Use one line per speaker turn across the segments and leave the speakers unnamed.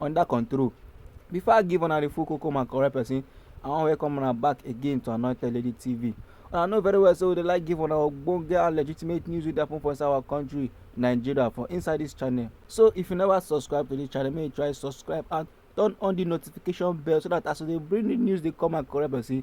under control. Before I give una the full koko man correct person, I wan welcome una back again to Anointed Lady TV. Una know very well say we dey like give una ogbonge and legitimate news wey dey happen for inside our country, Nigeria, for inside this channel. So if you never subscribe to this channel, make you try subscribe and turn on the notification bell so that as we dey bring the news dey come and correct person,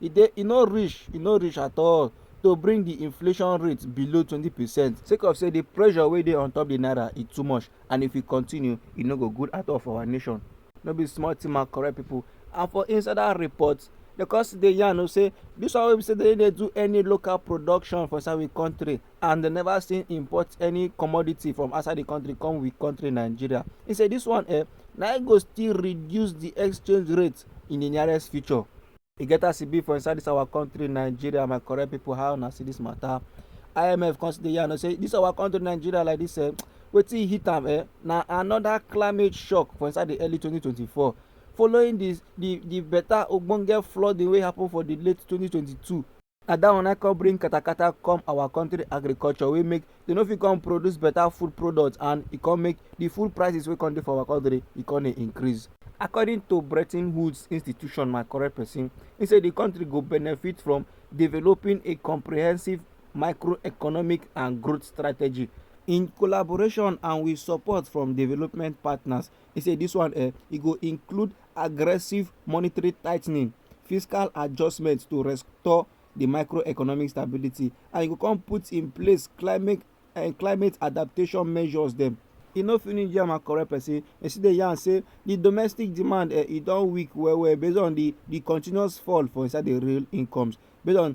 e dey e no reach e no reach at all to bring di inflation rate below twenty percent sake of say di pressure wey dey on top di naira e too much and if e continue e no go good at all for our nation no be small thing my correct people and for inside that report dem come still dey yarn o say this one wey be say dem dey do any local production for inside we country and dem never still import any commodity from outside the country come we country nigeria he say this one eh na e go still reduce the exchange rate in the nearest future. e get as e be for inside this our country nigeria my correct people how una see this matter imf come still dey yarn say this our country nigeria like this eh wetin hit am eh na another climate shock for inside the early 2024 following the the the better ogbonge flooding wey happen for the late 2022 na dat one na come bring katakata come our country agriculture wey make dem no fit come produce better food products and e come make the food prices wey come dey for our country e come dey increase. According to Bretton Woods institution my correct person he say the country go benefit from developing a comprehensive microeconomic and growth strategy in collaboration and with support from development partners He say this one eh, e go include aggressive monetary tightening, fiscal adjustments to restore the microeconomic stability and e go come put in place climate and eh, climate adaptation measures dem. e no finish yarn and correct person e still dey yarn say the domestic demand eh, e don weak well well based on the the continuous fall for inside the real incomes based on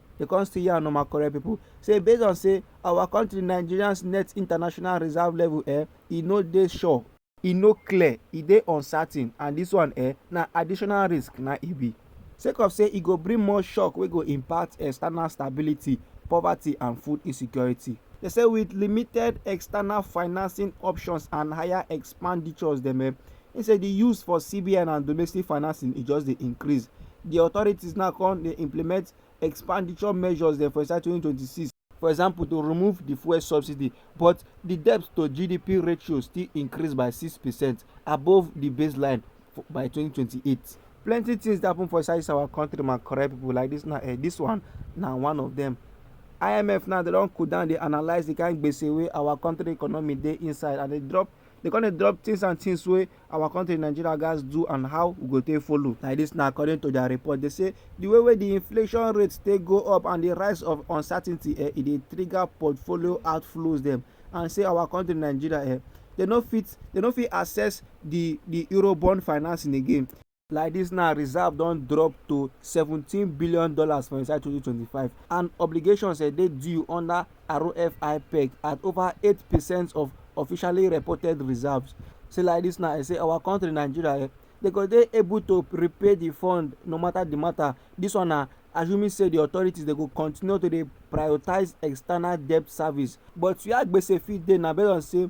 dey come still yarn on my correct people say based on say our country nigerians net international reserve level eh e no dey sure e no clear e dey uncertain and this one eh na additional risk na e be sake of say e go bring more shock wey go impact external stability poverty and food insecurity They say with limited external financing options and higher expenditures dem eh, He say the use for CBN and domestic financing e just dey increase. The authorities now come dey implement expenditure measures dem for inside 2026. For example, to remove the fuel subsidy, but the debt to GDP ratio still increase by 6 percent above the baseline by 2028. Plenty things dey happen for inside this our country, my correct people. Like this now, eh, this one na one of them. IMF now they don cool down, dey analyse the kind gbese wey our country economy dey inside, and they drop They come dey drop things and things wey our country Nigeria gats do and how we go take follow. Like this na according to their report. They say the way wey the inflation rate take go up and the rise of uncertainty eh, e dey trigger portfolio outflows dem and say our country Nigeria eh, they no fit they no fit access the the Eurobond financing again. Like dis now, reserve don drop to seventeen billion dollars for inside twenty twenty five and obligations um dey due under ROFI-PEG at over eight percent of officially reported reserves. Say like dis now, e say our country Nigeria um dey go dey able to repay di fund no matter di matter. Dis one na assuming say di authorities dey go continue to dey prioritise external debt service. But wia gbese fit dey na based on say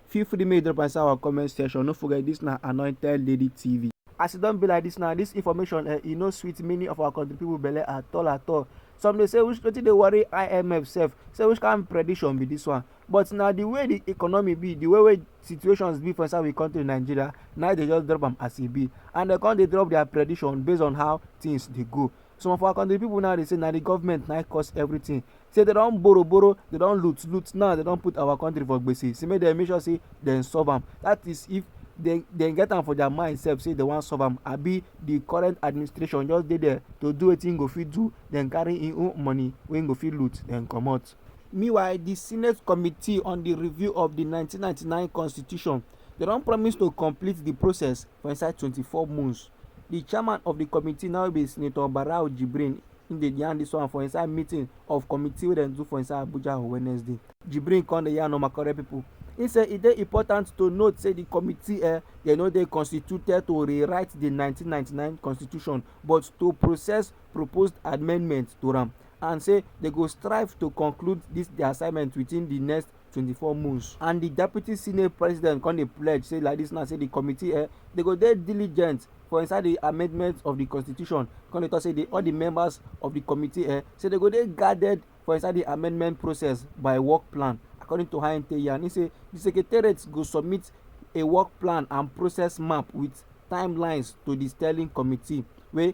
feel free make you drop inside our comment section no forget this na anointed lady tv as e don be like this now this information eh, e no sweet many of our country people belle at all at all some dey say which wetin dey worry imf sef say which kind prediction be this one but na the way the economy be the way wey situations be for inside we country nigeria na dey just drop am as e be and dem come dey drop their prediction based on how things dey go some of our country people now dey say na the government na cause everything say they don borrow borrow they don loot loot now they don put our country for gbese say make dem make sure say dem solve am that is if dem dem get am for their mind sef say dem wan solve am abi the current administration just dey there to do wetin go fit do dem carry im own money wey go fit loot dem comot. meanwhile di senate committee on di review of di 1999 constitution dem don promise to complete di process for inside 24 months di chairman of di committee now be senator barau jibrin im dey yarn dis one for inside meeting of committee wey dem do for inside abuja on wednesday jibrin come dey yarn normal correct pipo im say e dey important to note say di committee eh dem no dey constituted to rewrite di 1999 constitution but to process proposed amendments to am and say dem go strive to conclude dis dia assignment within di next 24 months and di deputy senate president come dey pledge say like dis now say di committee eh, dey go dey diligent for inside di amendment of di constitution come dey tok say di all di members of di committee eh, say dey go dey guarded for inside di amendment process by work plan according to how im take yarn im say di secretariat go submit a work plan and process map wit timelines to di sterling committee wey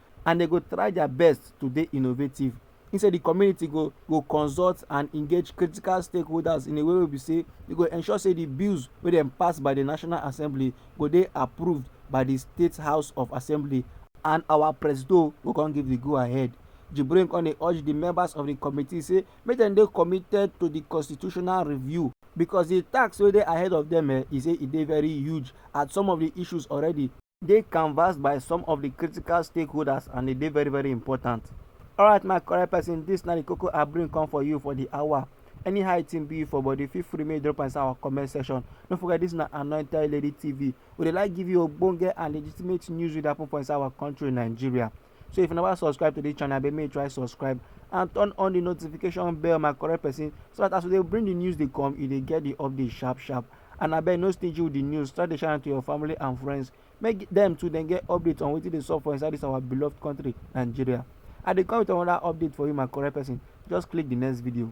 and dem go try their best to dey innovative. He say the community go go consult and engage critical stakeholders in a way wey be say e go ensure say the bills wey dem pass by the National Assembly go dey approved by the State House of Assembly and our presido go come give the go ahead. Jibrin come dey urge the members of the committee say make dem dey committed to the constitutional review because the task wey dey ahead of them eh, e say e dey very huge at some of the issues already. dey canvassed by some of the critical stakeholders and e dey very very important. Alright my correct person, this na the koko I bring come for you for the hour. Anyhow it thing be for body, feel free make drop inside our comment section. Don't forget this na Anointed Lady TV. We dey like give you ogbonge and legitimate news wey dey happen for inside our country Nigeria. so if you never subscribe to this channel abeg make you try subscribe and turn on the notification bell my correct person so that as we dey bring the news dey come you dey get the update sharp sharp and abeg no stingy with the news try dey share am to your family and friends make dem too dem get update on wetin dey sup for inside this our beloved country nigeria i dey come with another update for you my correct person just click the next video.